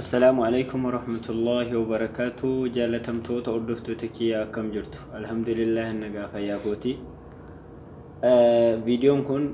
Assalaamu alaikum warahmatullaahi wabarakaatu jaalatamtoota hordoftoota kiyya akkam jirtu alhamdulillah nagaa fayyaa kooti viidiyoon kun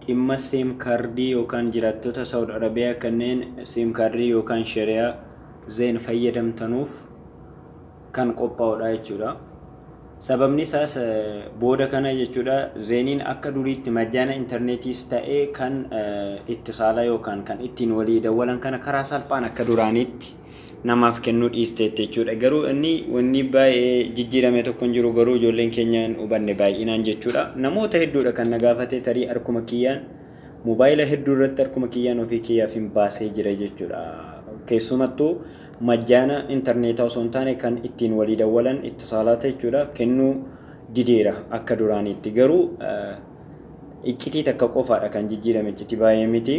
dhimma siim kaardii yookaan jiraattota saawud arabiyaa kanneen siim kaardii yookaan shariyaa zeen fayyadamtanuuf kan qophaa'udha jechuudha. Sababni isaas booda kana jechuudha zeeniin akka duriitti majjaana intarneetiis ta'ee kan itti saalaa yookaan kan ittiin walii dawwalan kana karaa salphaan akka duraaniitti namaaf kennuu dhiisteetti jechuudha. Garuu inni wanni baay'ee jijjiirame tokko hin jiru garuu ijoolleen keenya hin hubanne baay'inaan jechuudha. Namoota hedduudha kan na gaafate tarii harkuma kiyyaan mobaayila hedduu irratti harkuma kiyyaan ofii kiyyaaf hin baasee jira jechuudha. Keessumattuu majjaana interneetaa osoo hin taane kan ittiin walii dawwalan ittisaalaata jechuudha kennuu dideera akka duraaniitti garuu iccitii takka qofaadha kan jijjiirame iccitii baay'ee miti.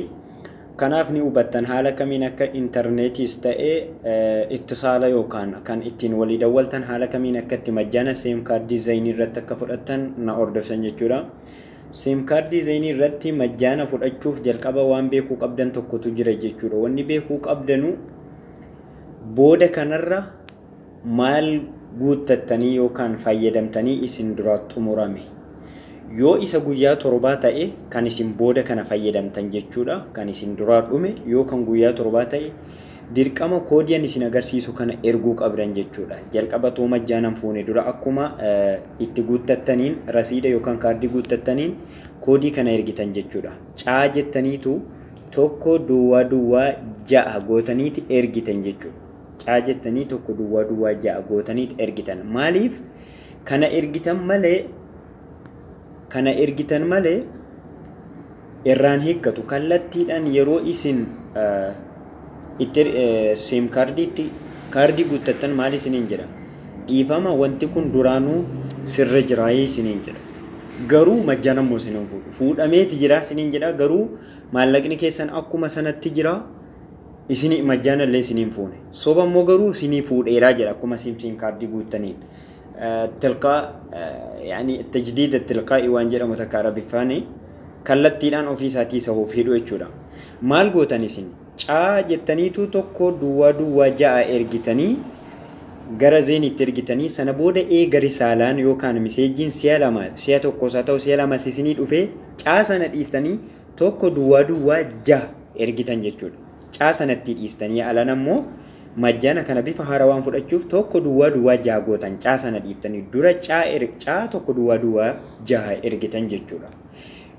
Kanaaf ni hubattan haala kamiin akka intarneetiis ta'ee ittisaala yookaan kan ittiin walii dawwaltan haala kamiin akka itti majjaana seem kaardii zayinii irratti akka fudhattan na hordoftan jechuudha. Sim card isinii irratti majjaana fudhachuuf jalqaba waan beekuu qabdan tokkotu jira jechuudha. Wanni beekuu qabdanu booda kanarra maal guuttattanii yookaan fayyadamtanii isin dura xumurame. Yoo isa guyyaa torbaa ta'e kan isin booda kana fayyadamtan jechuudha. Kan isin duraa dhume yoo kan guyyaa torbaa ta'e Dirqama koodii an isin agarsiisu kana erguu qabdan jechuudha. Jalqaba otoo majjaan an fuune dura akkuma itti guuttattaniin rasiida yookaan kaardii guuttattaniin koodii kana ergitan jechuudha. Caa jettaniitu tokko duwwaa duwwaa ja'a gootaniiti ergitan jechuudha. Caa jettanii tokko duwwaa duwwaa ja'a gootaniiti ergitan. Maaliif kana ergitan malee kana ergitan malee irraan hiikkatu kallattiidhaan yeroo isin itti siim kaardiitti kaardii guuttattan maal isiniin jedha dhiifama wanti kun duraanuu sirra jiraayee isiniin jedha garuu majjaan ammoo isiniin fuudhu fuudhameeti jiraa isiniin jedha garuu maallaqni keessan akkuma sanatti jiraa isinii majjaanallee isiniin fuune soba immoo garuu isinii fuudheeraa jedha akkuma siim siim kaardii guuttaniin Tilqaa, yani tajdiida tilqaa'i waan jedhamu takka arabiffaani kallattiidhaan ofii isaatii isa of hidhu jechuudha. Maal gootan isin? Caa jettaniitu tokko duwwaa duwwaa ja'a ergitanii gara zeeniitti ergitanii sana booda eega risaalaan yookaan miseejiin si'a lama si'a tokkos haa ta'u si'a lamas isinii dhufee caa sana dhiistanii tokko duwwaa duwwaa ja'a ergitan jechuudha. Caa sanatti dhiistanii alan ammoo Majjana kana bifa haarawaan fudhachuuf tokko duwwaa duwwaa jaha gootan caa sana dhiiftanii dura caa er caa tokko duwwaa duwwaa jaha ergitan jechuudha.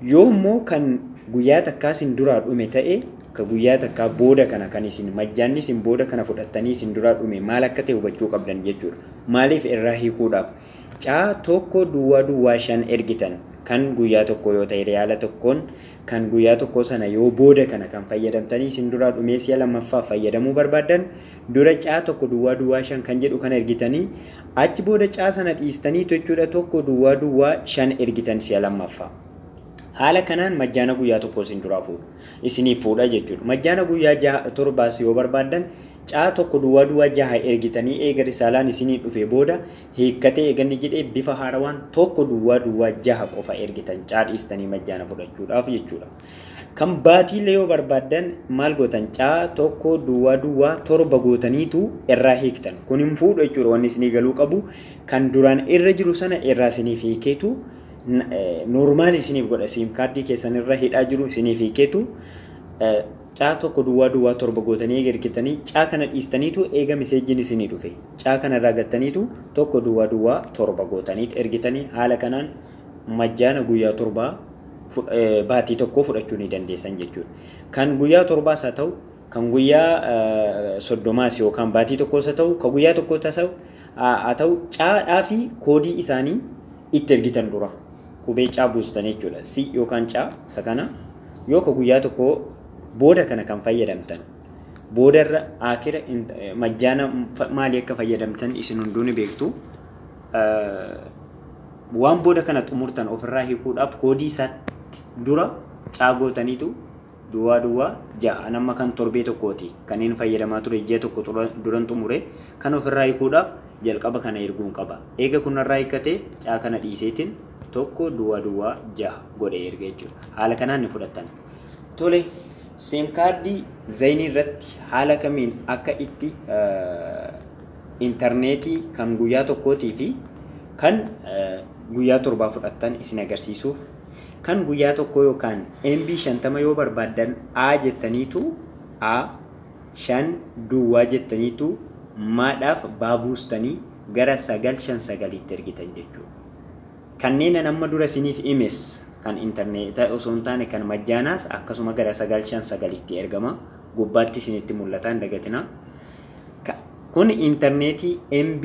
Yoo immoo kan guyyaa takkaa isin duraa dhume ta'e ka guyyaa takkaa booda kana kan isin majjaanni isin booda kana fudhattanii isin duraa dhume maal akka ta'e hubachuu qabdan jechuudha. Maaliif erraa hiikuudhaaf. Caa 1 duwwaa duwwaa 5 ergitan kan guyyaa tokkoo yoo ta'e riyaala tokkoon kan guyyaa tokkoo sana yoo booda kana kan fayyadamtanii isin duraa dhumee si'a lammaffaaf fayyadamuu barbaaddan dura caa 1 duwwaa duwwaa 5 kan jedhu kana ergitanii achi booda caa sana dhiistaniitu jechuudha 1 duwwaa duwwaa 5 ergitan si'a lammaffaa. Haala kanaan majjaana guyyaa tokkoo isin duraa fuudhu. isiniif fuudha jechuudha. Majjaana guyyaa jaha torbaas yoo barbaaddan caa tokko duwwaa duwwaa jaha ergitanii eega risaalaan isinii dhufee booda hiikkatee eeganni jedhee bifa haarawaan tokko duwwaa duwwaa jaha qofa ergitan caa dhiistanii majjaana fudhachuudhaaf jechuudha. Kan baatiillee yoo barbaaddan maal gootan caa tokko duwwaa duwwaa torba gootaniitu irraa hiiktan. Kun hin fuudhu jechuudha wanni isinii galuu qabu kan duraan irra jiru sana irraa isiniif hiikeetu Normaalii isiniif godha siim kaardii keessan irra hidhaa jiru isiniif hiikeetu caa tokko duwwaa duwwaa torba gootanii eega ergitanii caa kana dhiistaniitu eega miseejjiin isinii dhufe caa kana irraa gattaniitu tokko duwwaa duwwaa torba gootaniit ergitanii haala kanaan majjaana guyyaa torbaa baatii tokkoo fudhachuu ni dandeessan jechuudha. Kan guyyaa torbaas haa ta'u kan guyyaa soddomaas yookaan baatii tokkoos haa ta'u kan guyyaa tokkoo haa ta'u caa fi koodii isaanii itti ergitan dura qubee caa buustan jechuudha. C yookaan caa isa kana yoo ka guyyaa tokko booda kana kan fayyadamtan boodarra akira majjaana maalii akka fayyadamtan isin hunduu ni beektu. Waan booda kana xumurtan ofirraa hiikuudhaaf koodii isaatti dura caa gootaniitu Duwwaa Duwwaa 6. An amma kan torbee tokkooti. Kaneen fayyadamaa ture ji'a tokko duran xumure. Kana ofirraa hiikuudhaaf jalqaba kana erguun qaba. Eega kun narraa hiikkate caa kana dhiiseetiin 1 Duwwaa Duwwaa 6 godhee erga jechuudha. Haala kanaan ni fudhattan. Tole, seem kaardii Zaynii irratti haala kamiin akka itti intarneetii kan guyyaa tokkootii fi kan guyyaa torbaa fudhattan isin agarsiisuuf Kan guyyaa tokkoo yookaan MB 50 yoo barbaaddan A jettaniitu A 5 duwwaa jettaniitu maa dhaaf baa buustanii gara 9 5 9 tti ergitan jechuudha. Kanneen an amma dura isiniif imes kan interneeta osoo hin taane kan majjaanaas akkasuma gara 9 5 9 tti ergama. Gubbaatti isinitti mul'ata hin dagatinaa. Ka- Kun interneetii MB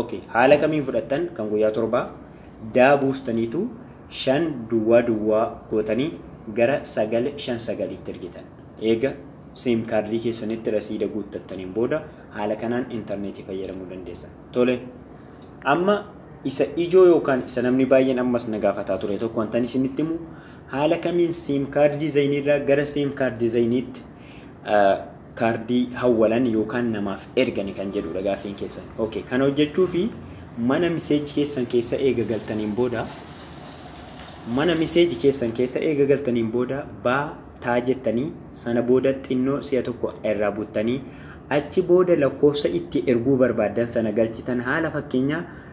Ok haala kamiin fudhattan kan guyyaa torbaa daa buustaniitu shan duwwaa duwwaa gootanii gara sagal shan sagaliitti ergitan eega sim kaardii keessanitti rasiida guuttattaniin booda haala kanaan intarneetii fayyadamuu dandeessan tole amma isa ijoo yookaan isa namni baay'een ammas na gaafataa ture tokko wantan isinitti himu haala kamiin sim kaardii zayiniirraa gara sim kaardii zayiniitti kaardii hawwalan yookaan namaaf ergani kan jedhuudha gaaffiin keessan. Ok kana hojjechuufi mana message keessan keessa eega galtaniin booda mana message keessan keessa eega galtaniin booda ba taa jettanii sana booda xinnoo si'a tokko irraa buttanii achi booda lakkoofsa itti erguu barbaaddan sana galchitan haala fakkeenyaa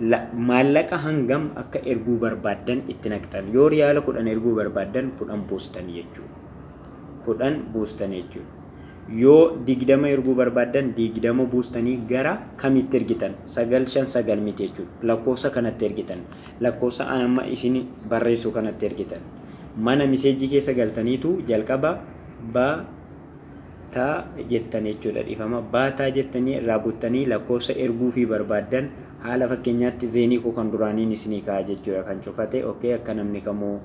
la, maallaqa hangam akka erguu barbaaddan itti naqxan. Yoo riyaala 10 erguu barbaaddan 10 buustan jechuudha. 10 buustan jechuudha. Yoo 20 erguu barbaaddan 20 buustanii gara kamitti ergitan? 959 miti jechuudha. Lakkoofsa kanatti ergitan. Lakkoofsa an amma isin barreessu kanatti ergitan. Mana miseejjii keessa galtaniitu jalqaba ba ta jettan jechuudha dhifama baataa jettanii irraa buttanii lakkoofsa erguufii barbaaddan haala fakkeenyaatti zeenii koo kan duraaniin isinii kaa'a jechuudha kan cufate ok akka namni kamuu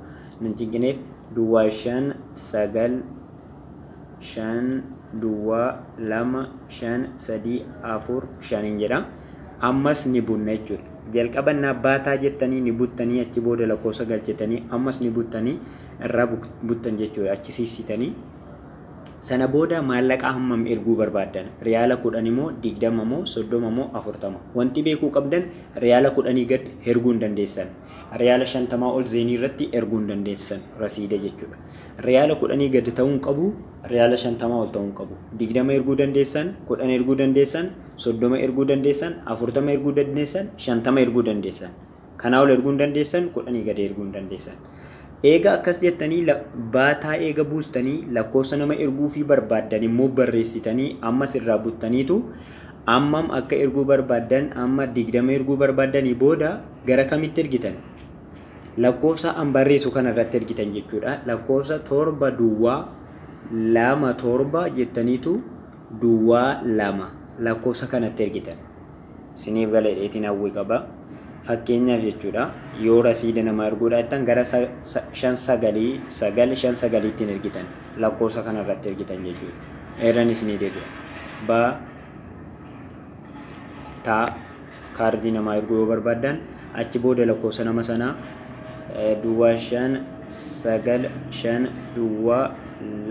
nan cinqineef duwwaa shan sagal shan duwwaa lama shan sadii afur shaniin jedha ammas ni bunna jechuudha jalqaba naa baataa jettanii ni buttanii achi booda lakkoofsa galchitanii ammas ni buttanii irraa buttan jechuudha achi siissitanii Sana booda maallaqa hammam erguu barbaaddan? Riyaala kudhani moo digdama moo soddoma moo afurtama? Wanti beekuu qabdan riyaala kudhanii gad herguu hin dandeessan. Riyaala shantamaa ol zeenii irratti erguu hin dandeessan rasiida jechuudha. Riyaala kudhanii gad ta'uu hin qabu, riyaala shantamaa ol ta'uu hin qabu. Digdama erguu dandeessan, kudhan erguu dandeessan, soddoma erguu dandeessan, afurtama erguu dandeessan, shantama erguu dandeessan. Kanaa ol erguu hin dandeessan, kudhanii gadi erguu hin dandeessan. Eega akkas jettanii baataa eega buustanii lakkoofsa nama erguufii barbaaddan immoo barreessitanii ammas irraa buttaniitu ammam akka erguu barbaaddan amma digdama erguu barbaaddanii booda gara kamitti ergitan? Lakkoofsa an barreessu kana irratti ergitan jechuudha. Lakkoofsa torba duwwaa lama torba jettaniitu duwwaa lama lakkoofsa kanatti ergitan. siniif gala jedheetiin hawwii qaba. Fakkeenyaaf jechuudha yoo rasiida namaa erguu dhaattan gara shan sagalii sagal shan sagaliittiin ergitan lakkoofsa kana irratti ergitan jechuudha. Eeran isinii deebi'a. Ba taa kaardii namaa erguu yoo barbaaddan achi booda lakkoofsa nama sanaa duwwaa shan sagal shan duwwaa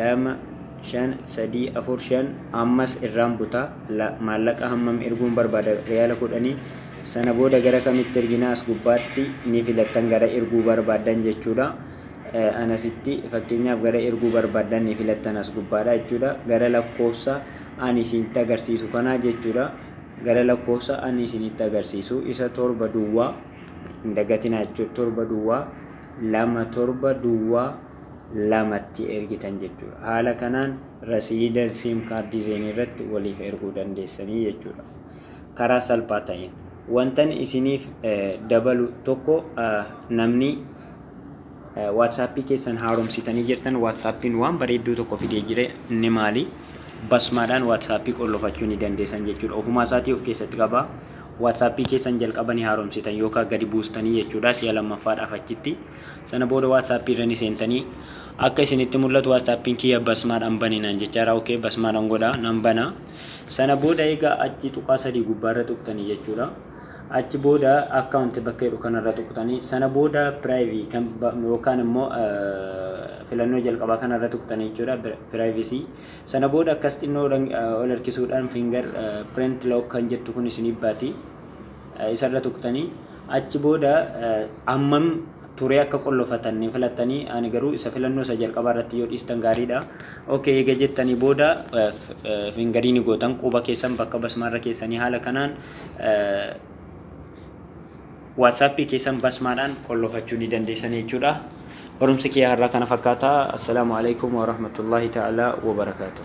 lama 5, 3, 4, 5, ammas irraan buta, la, maallaqa hammam erguun barbaada, riyaala kudhanii, sana booda gara kamitti ergina as gubbaatti ni filattan gara erguu barbaaddan jechuudha. Eh, an asitti fakkeenyaaf gara erguu barbaaddan ni filattan as gubbaadha jechuudha. Gara lakkoofsa ani isinitti agarsiisu kanaa jechuudha. Gara lakkoofsa ani isinitti agarsiisu isa torba duwwaa hin dagatinaa jechuudha. Torba duwwaa lama torba duwwaa lamatti ergitan jechuudha. Haala kanaan rasiida siim kaardii zeenii irratti waliif erguu dandeessanii jechuudha. Karaa salphaa ta'een. Wantan isiniif dabalu tokko namni waatsaappii keessan haaromsitanii jirtan waatsaappiin waan bareedduu tokko fidee jire inni maali? Basmaadhaan waatsaappii qollofachuu ni dandeessan jechuudha. Ofumaa isaatii of keessatti qaba. Waatsaappii keessan jalqabanii haaromsitan yookaan gadi buustanii jechuudha si'a lammaffaadhaaf achitti. Sana booda WhatsApp irra ni seentanii Akka isinitti mul'atu WhatsApp'n kiyya basmaadhaan bani naan jechaa jira ok basmaadhaan godha nan bana Sana booda eega achi tuqaa sadii gubbaarra tuqtanii jechuudha Achi booda account bakka jedhu kanarra tuqtanii Sana booda privacy kan yookaan immoo filannoo jalqabaa kanarra tuqtanii jechuudha privacy Sana booda akkas xinnoo ol harkisuudhaan finger print lock kan jettu kun isiniif baati isarra tuqtanii achi booda ammam turee akka qollofatan ni filattanii ani garuu isa filannoo isa jalqabaa irratti yoo dhiistan gaariidha. Ok eega jettanii booda fingarii ni gootan quba keessan bakka basmaarra keessanii haala kanaan waatsaappii keessan basmaadhaan qollofachuu ni dandeessan jechuudha. Barumsi kiyya har'aa kana fakkaata. Assalaamu alaikum wa rahmatullahi ta'ala wa barakaatuh.